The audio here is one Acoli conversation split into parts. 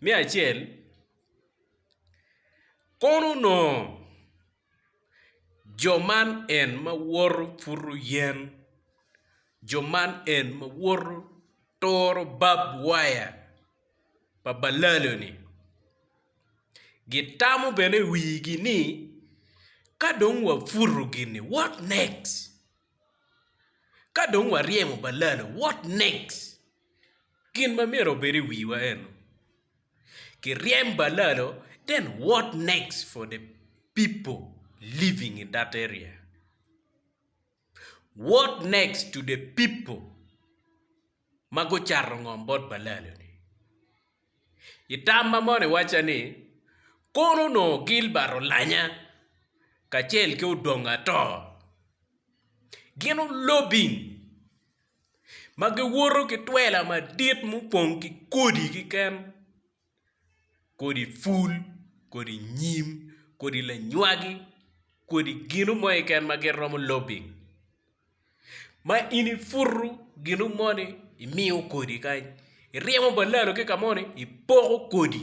Me acel, kono onongo jo man en ma woto puto yen, jo man en ma woto turo bab waya pa balalo-ni gitamo bene i wigi ni ka dong waputo gini what next, ka dong waryemo balalo what next. Gin ma myero obed i wiwa enu, kiryem balalo then what next for the people living in that area? What next to the people ma gucato ngom bot balalo-ni? I tam ma moni wacca ni, Kono onongo Gilbert olanya kacel ki Odongo Ator gin olobbing ma giwoto ki twela madit mupong ki kodi kiken kodi pul kodi nyim kodi lanywagi kodi gino mo kiken ma gin romo lobing ma in iputu gino moni imiyo kodi kany iryemo balalo ki ka moni ipoko kodi.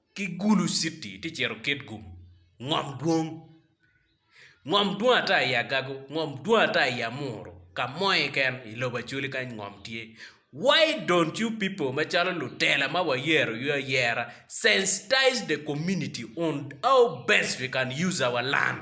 ki Gulu City tye cito Kitgum, ngom dwong, ngom dwong ata i Agago, ngom dwong ata i Amuru, ka mo keken i lobo Acholi kany ngom tye. Why don't you people macalo lutela ma wayero you ayera sensitize the community on how best we can use our land?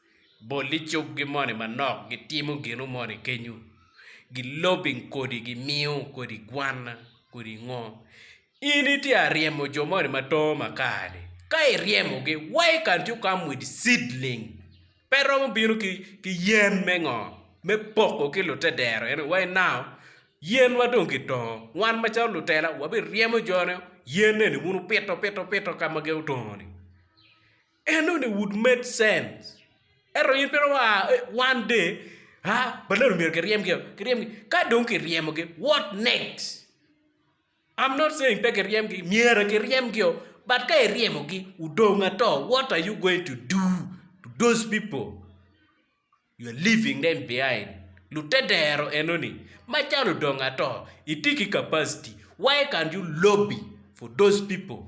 Bol i cukgi moni manok gitimo ginu moni kenyu gilobing kodi gimiyo kodi gwanna kodi ngo in itye ka ryemo jo moni matongo makar-ni ka iryemogi why can't you come with seedling pe romo bino ki yen me ngo me poko ki lute dero eno why now yen ma dong kitongo wan macalo lutela wabiryemo jo ne yen eni wun wupito pito pito ka ma gin otongo ni. En only would made sense ento in twero a one day a ba nongo myero kiryem gi o kiryem gi ka dong kiryemo gi what next I'm not saying pe kiryem gi myero kiryem gi o but ka iryemo gi odong ato what are you going to do to those people you are leaving them behind lutedero enoni ma can odong ato itye ki capacity why can't you lobby for those people.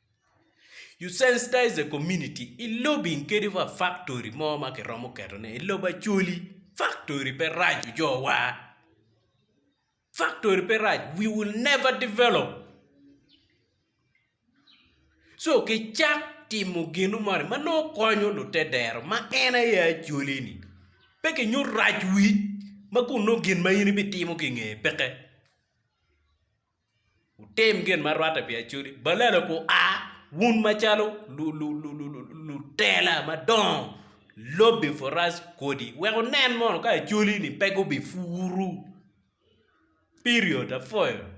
You sensitize the community i lobi kadi wa factory mo ma kiromo keto ne i lobo Acholi factory pe rac ojowa factory pe rac we will never develop so ki cak timo gino moni ma nongo konyo lute dero ma en aye Acholi ni pe ki nyuto rac wic ma kun nongo gin ma in ibitimo ki nge peke. Wutim gin ma rwatte pi acodi. Balala gua, wun macalo lutela madongo, lobbi purac kodi, wek wunen mono ka acoli-ni pe gubipuru. Period. Apwoyo.